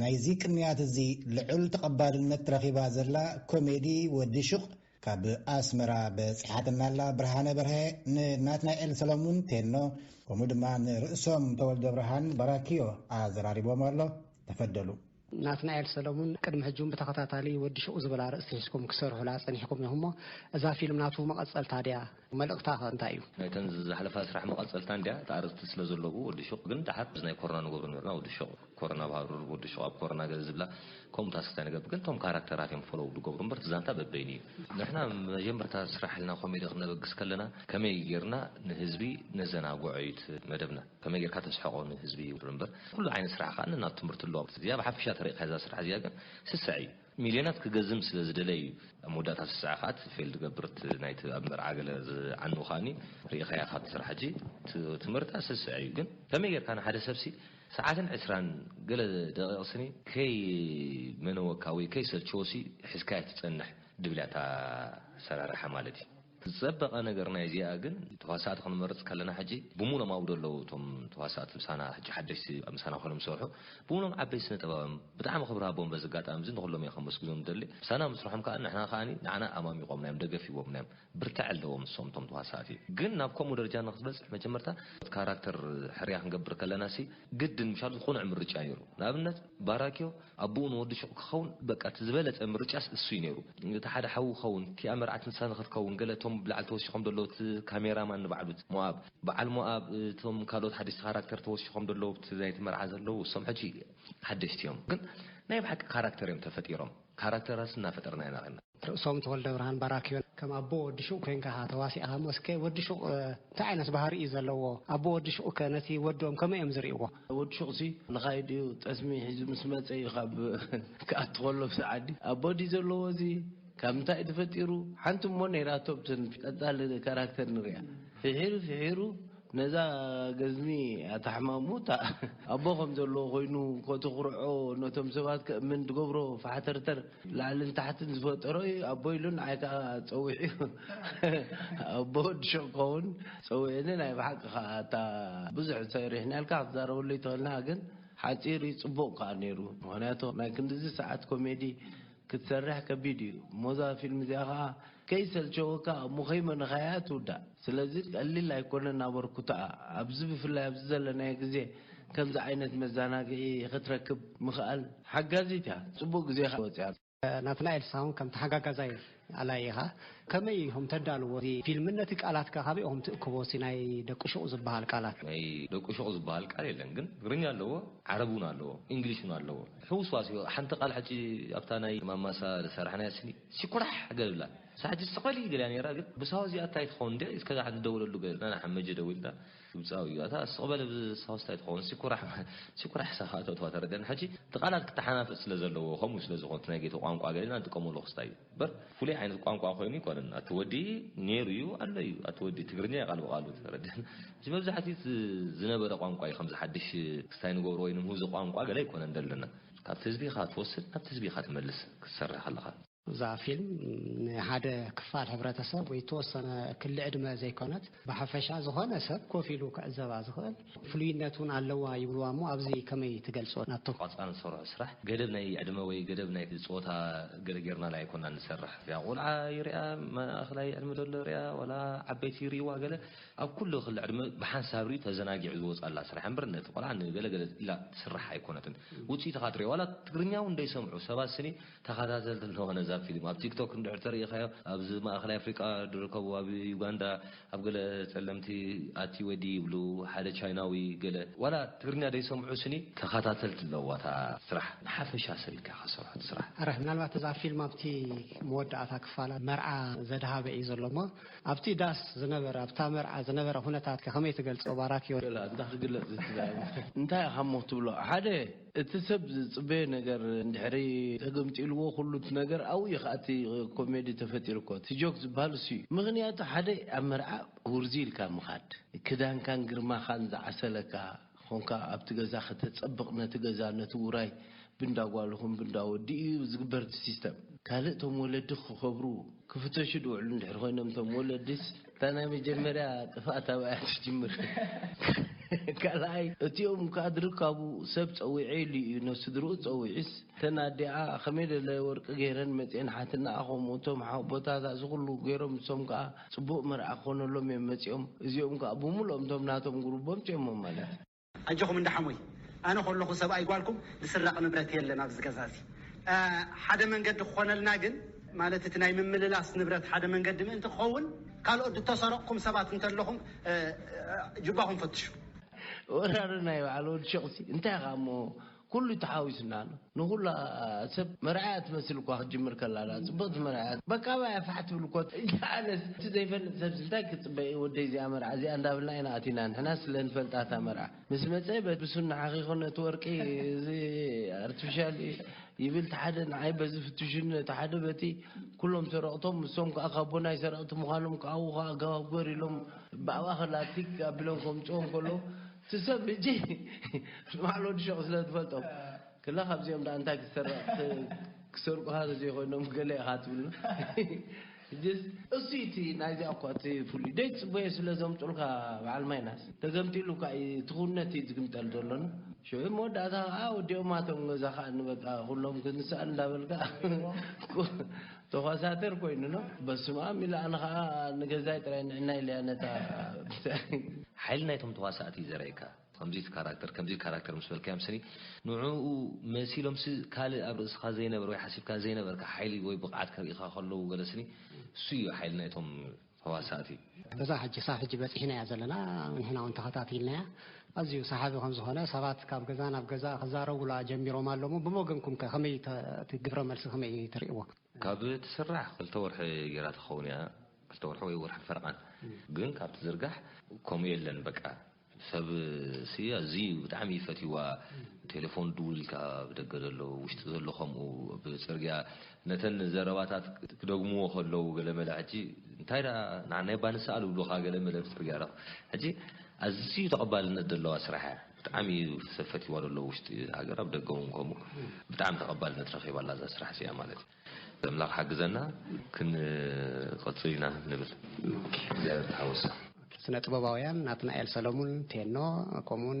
ናይዚ ቅንያት እዚ ልዑል ተቐባልነት ረኺባ ዘላ ኮሜዲ ወዲ ሹቕ ካብ ኣስመራ በጺሓትና ኣላ ብርሃነ በርሀ ንናትናኤል ሰሎሙን ቴኖ ከምኡ ድማ ንርእሶም ተወልደ ብርሃን በራኪዮ ኣዘራሪቦም ኣሎ ተፈደሉ ናትናኤል ሰለሙን ቅድሚ ሕጂ ውን ብተኸታታሊ ወዲ ሹቕ ዝብል ኣርእስቲ ሒዝኩም ክትሰርሑላ ጸኒሕኩም ኢኹም እሞ እዛ ፊልም ናቱ መቐጸልታ ድያ? መልእኽታ ከ እንታይ እዩ? ናይተን ዝሓለፋ ስራሕ መቐጸልታ እንድያ፣ እቲ ኣርእስቲ ስለ ዘለዎ ወዲ ሹቕ ግን ደሓር እዚ ናይ ኮሮና ንገብሮ ኔርና ወዲ ሹቕ ኮሮና ኣብ ሃሩር ወዲ ሹቕ ኣብ ኮሮና ገለ ዝብላ ከምኡ ታስክታት ንገብር ግን እቶም ካራክተራት እዮም ፎሎው ዝገብሩ እምበር እቲ ዛንታ በበይኑ እዩ። ንሕና መጀመርታ ስራሕ ኢልና ኮሜዲ ክነበግስ ከለና ከመይ ጌርና ንህዝቢ ነዘናግዖ እዩ እቲ መደብና። ከመይ ጌርካ ተስሕቆ ንህዝቢ እዩ እምበር ኩሉ ዓይነት ስራሕ ከኣ ነናቱ ትምህርቲ ኣለዎ እዚኣ ብሓፈሻ ተሪእካ እዛ ስራሕ እዚኣ ግን ስስዐ እዩ ሚልዮናት ክገዝም ስለ ዝደለ እዩ ኣብ መወዳእታ ስስዐ ከኣ እቲ ፌልድ ገብር እቲ ናይቲ ኣብ መርዓ ገለ ዝዓኑ ከኣኒ ሪኢኻያ ካብቲ ስራሕ ሕጂ እቲ ትምህርታ ስስዐ እዩ ግን ከመይ ጌርካ ንሓደ ሰብሲ ሰዓትን ዕስራን ገለ ደቂቅ ስኒ ከይመነወካ ወይ ከይሰልቸዎሲ ሒዝካያ ትጸንሕ ድብላ እታ ኣሰራርሓ ማለት እዩ። ዝጸበቀ ነገር ናይ እዚኣ ግን ተዋሳእቲ ክንመርጽ ከለና ሕጂ ብሙሎም ኣብዶ ኣለዉ እቶም ተዋሳእቲ ምሳና ሕጂ ሓደሽቲ ምሳና ኮይኖም ዝሰርሑ ብሙሎም ዓበይቲ ስነ ጥባውያም ብጣዕሚ ክብሪ ሃቦም በዚ ኣጋጣሚ እዚ ንኩሎም እየ ከመስግኖም ዝደሊ ምሳና ምስርሖም ከኣ ንሕና ከኣ ንዓና ኣማሚቆምናዮም ደገፍ ሂቦምናዮም ብርትዐ ኣለዎም ንሶም እቶም ተዋሳእቲ ግን ናብ ከምኡ ደረጃ ንክትበጽሕ መጀመርታ ካራክተር ሕርያ ክንገብር ከለናሲ ግድን ምሻሉ ቁኑዕ ምርጫ ኔሩ ንኣብነት ባራክዮ ኣቡኡ ንወዱ ሹቕ ክኸውን በቃ እቲ ዝበለጸ ምርጫስ እሱ እዩ ነይሩ። እቲ ሓደ ሓዉ ክኸውን እቲኣ መርዓት ንሳ ንኽትከውን ገለ እቶም ኣብ ላዕሊ ተወሺኾም ደለዉ እቲ ካሜራ ማን ንባዕሉ እቲ ሞኣብ በዓል ሞኣብ እቶም ካልኦት ሓደሽቲ ካራክተር ተወሺኾም ደለዉ ኣብቲ ናይቲ መርዓ ዘለዉ እሶም ሕጂ ሓደሽቲ እዮም ግን ናይ ብሓቂ ካራክተር እዮም ተፈጢሮም ካራክተራት እናፈጠርና ኢና ኸይድና ርእሶም ተወልደብርሃን ባራክዮ ከም ኣቦ ወዲ ሹቕ ኮንካ ኢኻ ተዋሲእኻሞ እስከ ወዲ ሹቕ እንታይ ዓይነት ባህሪ እዩ ዘለዎ ኣቦ ወዲ ሹቕከ ነቲ ወዶም ከመይ እዮም ዝርእይዎ? ወዲ ሹቕሲ ልኻይድ እዩ ጠስሚ ሒዙ ምስ መጸ እዩ ካብ ክኣቱ ከሎ ኣብ ሰዓዲ ኣቦ ድዩ ዘለዎ እዚ ካብ ምንታይ እዩ ተፈጢሩ ሓንቲ እሞ ነይራቶ ኣብተን ቀጻሊ ካራክተር ንርእያ ፍሒሩ ፍሒሩ ነዛ ገዝሚ ኣታ ሕማሙ እታ ኣቦ ከም ዘለዎ ኮይኑ ኮትኩርዖ ነቶም ሰባት ከእምን ትገብሮ ፋሕተርተር ላዕልን ታሕትን ዝፈጠሮ እዩ ኣቦ ኢሉ ንዓይ ከኣ ጸዊዑ ኣቦ ወዲ ሹቅ ክከውን ጸዊዑኒ ናይ ብሓቂ ከኣ ኣታ ብዙሕ ሰሪሕናልካ ክትዛረበሉ ኣይትክእልና ግን ሓጺር እዩ ጽቡቅ ከኣ ነይሩ ምክንያቱ ናይ ክንድዚ ሰዓት ኮሜዲ ክትሰርሕ ከቢድ እዩ እሞ እዛ ፊልም እዚኣ ከኣ ከይሰልቸወካ ኣብ ሙኼመ ንኸያያ ትውዳእ ስለዚ ቀሊል ኣይኮነን ኣበርኩትኣ ኣብዚ ብፍላይ ኣብዚ ዘለናዮ ግዜ ከምዚ ዓይነት መዛናግዒ ኽትረክብ ምኽኣል ሓጋዚት እያ ጽቡቅ ግዜ ወጽያ ናትናኤል ሳሁን ከም ተሓጋጋዛይ ኣላይ ኢኻ ከመይ ኢኹም ተዳልዎ እዚ ፊልም ነቲ ቃላት ከ ካበይ ኢኹም ትእክቦ እቲ ናይ ደቂ ሹቕ ዝበሃል ቃላት። ናይ ደቁ ሹቕ ዝበሃል ቃል የለን ግን ትግርኛ ኣለዎ ዓረብ ውን ኣለዎ ኢንግሊሽ ውን ኣለዎ። ሕውስዋስዮ ሓንቲ ቃል ሕጂ ኣብታ ናይ ማማሳ ዝሰራሕናያ ስኒ ሲኩራሕ ገል ብላ ንሳ ሕጂ ስቅ በሊ ገሊያ ነይራ ግን ብሳሆ እዚኣ እንታይ ትኸውን እንዴ እስከ ንደውለሉ ገል ኢልና ንሓመጀ ደዊልና ግብጻዊ እዩ ኣታ ስቅ በለ ብሳሆስ እንታይ ትኸውን ሲኩራሕ ሲኩራሕ ሳሆ ኣተውተዋ ተረደና ሕጂ እቲ ቃላት ክተሓናፈጽ ስለ ዘለዎ ከምኡ ስለ ዝኾኑ እቲ ናይ ጌቶ ቋንቋ ገል ኢልና ንጥቀመሉ ክስታይ እዩ እምበር ፍሉይ ዓይነት ቋንቋ ኮይኑ ኣይኮነን። ኣቲ ወዲ ነይሩ እዩ ኣሎ እዩ ኣቲ ወዲ ትግርኛ እዩ ቃል ብቓሉ ተረድኣኒ። ሕጂ መብዛሕትኡ እቲ ዝነበረ ቋንቋ እዩ ከምዚ ሓድሽ ክስታይ ንገብሮ ወይ ንምህዞ ቋንቋ ገለ ኣይኮነን ዘለና። ካብቲ ህዝቢ ኢኻ ትወስድ ናብቲ ህዝቢ ኢኻ ትመልስ ክትሰርሕ ከለኻ። እዛ ፊልም ንሓደ ክፋል ሕብረተሰብ ወይ እተወሰነ ክሊ ዕድመ ዘይኮነት ብሓፈሻ ዝኾነ ሰብ ኮፍ ኢሉ ክዕዘባ ዝኽእል ፍሉይነት እውን ኣለዋ ይብልዋ እሞ ኣብዚ ከመይ ትገልጾ ናትቶ። ቋንጻ ንሰርሖ ስራሕ ገደብ ናይ ዕድመ ወይ ገደብ ናይ ጾታ ገለ ጌርናላ ኣይኮናን ንሰርሕ እዚኣ ቆልዓ ይርኣ ማእከላይ ዕድመ ዘሎ ይርኣ ዋላ ዓበይቲ ይርእይዋ ገለ ኣብ ኩሉ ክሊ ዕድመ ብሓንሳብ ርእዩ ተዘናጊዑ ዝወጻላ ስራሕ እምበር ነቲ ቆልዓ ንገለ ገለ ኢላ ትስራሕ ኣይኮነትን ውጽኢታ ካትርእዮ ዋላ ትግርኛ እውን ደይሰምዑ ሰባት ስኒ ተኻታተልቲ ንኾን እዛ ፊልም ኣብ ቲክቶክ እንድሕር ተሪኢኻዮ ኣብዚ ማእኸላይ ኣፍሪቃ ድርከቡ ኣብ ዩጋንዳ ኣብ ገለ ጸለምቲ ኣቲ ወዲ ይብሉ ሓደ ቻይናዊ ገለ ዋላ ትግርኛ ደይሰምዑ ስኒ ተኻታተልቲ ኣለዋ እታ ስራሕ ብሓፈሻ ሰብ ኢልካ ክትሰርሖ እቲ ስራሕ። ኣረ ምናልባት እዛ ፊልም ኣብቲ መወዳእታ ክፋላ መርዓ ዘድሃበ እዩ ዘሎ እሞ ኣብቲ ዳስ ዝነበረ ኣብታ መርዓ ዝነበረ ኩነታት ከ ከመይ ትገልጾ ባራኪዮ። እንታ ክግለጽ ዝትዛረብ እንታይ ኢኻሞ ትብሎ ሓደ እቲ ሰብ ዝጽበዮ ነገር እንድሕሪ ተገምጢልዎ ኩሉ እቲ ነገር ኣብኡ እዩ ከኣ እቲ ኮሜዲ ተፈጢሩ እኮ እቲ ጆክ ዝበሃል እሱ እዩ ምኽንያቱ ሓደ ኣብ መርዓ ውርዙይ ኢልካ ምኻድ ክዳንካን ግርማኻን ዝዓሰለካ ኾንካ ኣብቲ ገዛ ከተጸብቕ ነቲ ገዛ ነቲ ውራይ ብእንዳ ጓል ይኹን ብእንዳ ወዲ እዩ ዝግበር እቲ ሲስተም ካልእ እቶም ወለዲ ክኸብሩ ክፍተሹ ድውዕሉ እንድሕሪ ኮይኖም እቶም ወለዲስ እታ ናይ መጀመርያ ጥፍኣት ኣብኣ እያ ትጅምር። ካልኣይ እቲኦም ካድር ካብኡ ሰብ ጸዊዑ ኢሉ እዩ ን ስድርኡ ጸዊዑስ እተን ኣዲኣ ከመይ ደለ ወርቂ ገይረን መጺኤን ሓትንኣ ከምኡ እቶም ሓውቦታታ እዚ ኩሉ ገይሮም ንሶም ከኣ ጽቡቅ መርዓ ክኮነሎም እዮም መጺኦም እዚኦም ከኣ ብሙሉኦም እቶም ናቶም ጉሩቦም ጺኦሞም ማለት ኣጆኹም እንዳ ሓሞይ ኣነ ከለኹ ሰብኣይ ጓልኩም ዝስረቅ ንብረት የለን ኣብዚ ገዛ እዚ ሓደ መንገዲ ክኾነልና ግን ማለት እቲ ናይ ምምልላስ ንብረት ሓደ መንገዲ ምእንቲ ክኸውን ካልኦት ድተሰረቅኩም ሰባት እንተለኹም ጅባኹም ፈትሹ። ወራሪ ናይ ባዕሉ ወዲ ሸቁሲ እንታይ ኢኻ እሞ ኩሉ ተሓዊሱና ኣሎ ንኩላ ሰብ መርኣያ ትመስል እኳ ክትጅምር ከላ ዳኣ ጽብቅቲ መርኣያ በቃ ባያ ፋሕ ትብል እኮ ኣነስ እቲ ዘይፈልጥ ሰብሲ እንታይ ክጽበ እዩ ወደይ እዚኣ መርዓ እዚኣ እንዳብልና ኢና ኣቲና ንሕና ስለ ንፈልጣ እታ መርዓ ምስ መጸ ብሱና ሓኺኹ ነቲ ወርቂ እዚ ኣርቲፊሻል ይብል እቲ ሓደ ንዓይ በዚ ፍትሹኒ እቲ ሓደ በቲ ኩሎም ሰረቕቶም ንሶም ከዓ ካቦናይ ሰረቕቲ ምዃኖም ክዓዉ ከዓ ኣገባብ ግበር ኢሎም ብኣባ ከላቲክ ኣቢሎም ከምጽኦም ከለዉ እቲ ሰብ ሕጂ ንባዕሉ ወዲ ሸቕ ስለ ዝፈልጦ ክላ ካብዚኦም ደኣ እንታይ ክትሰርቕ ክሰርቁኻ ተዘይኮይኖም ገለ ኢኻ ትብሉ ሕጂስ እሱይ እቲ ናይዚኣ እኳ እቲ ፍሉይ ደይትጽበዮ ስለ ዘምጡልካ በዓል ማይናስ ተገምጢሉ እኳ እዩ እቲ ኩነት እዩ ዝግምጠል ዘሎና ሽዑ መወዳእታ ከኣ ወዲኦማ እቶም ገዛ ከኣ ንበቃ ኩሎም ክንስኣል እንዳበልካ ተኳሳተር ኮይኑ ን በስማም ኢላ ኣነ ከኣ ንገዛይ ጥራይ ንዕናይ ኢለያ ነታ ብታይ ሓይሊ ናይቶም ተዋሳእቲ እዩ ዘርእየካ ከምዚ ካራክተር ከምዚ ካራክተር ምስ በልካዮም ስኒ ንዕኡ መሲሎም ሲ ካልእ ኣብ ርእስኻ ዘይነበረ ወይ ሓሲብካ ዘይነበርካ ሓይሊ ወይ ብቕዓት ከርእኻ ከለዉ ገለ ስኒ እሱ እዩ ሓይሊ ናይቶም ተዋሳእቲ በዛ ሕጂ ክሳብ ሕጂ በጺሕናያ ዘለና ንሕና እውን ተኸታቲልናያ ኣዝዩ ሰሓቢ ከም ዝኾነ ሰባት ካብ ገዛ ናብ ገዛ ክዛረቡላ ጀሚሮም ኣለዉ ብወገንኩም ከ ከመይ እቲ ግብረ መልሲ ከመይ እዩ ትርእይዎ ካብ ትስራሕ ክልተ ወርሒ ጌራ ትኸውን እያ ክልተ ወርሒ ወይ ወርሒ ፈረቓን ግን ካብ ትዝርጋሕ ከምኡ የለን በቃ ሰብ ሲ ኣዝዩ ብጣዕሚ እዩ ፈትይዋ ቴለፎን ድውል ኢልካ ብደገ ዘሎ ውሽጢ ዘሎ ከምኡ ኣብ ጽርግያ ነተን ዘረባታት ክደግምዎ ከለዉ ገለመለ ሕጂ እንታይ ደኣ ንዓና እባ ንስኣል ይብሉኻ ገለመለ ኣብ ጽርግያ ረኽ ሕጂ ኣዝዩ ተቐባልነት ዘለዋ ስራሕ እያ ብጣዕሚ እዩ ሰብ ፈትይዋ ዘሎ ውሽጢ ሃገር ኣብ ደገ እውን ከምኡ ብጣዕሚ ተቐባልነት ረኺባ ኣላ እዛ ስራሕ እዚኣ ማለት እዩ ዘምላኽ ሓግዘና ክንቕጽል ኢና ንብል እግዚኣብሔር ተሓወሶ። ስነ ጥበባውያን ናትናኤል ሰለሙን፣ ቴኖ፣ ከምኡውን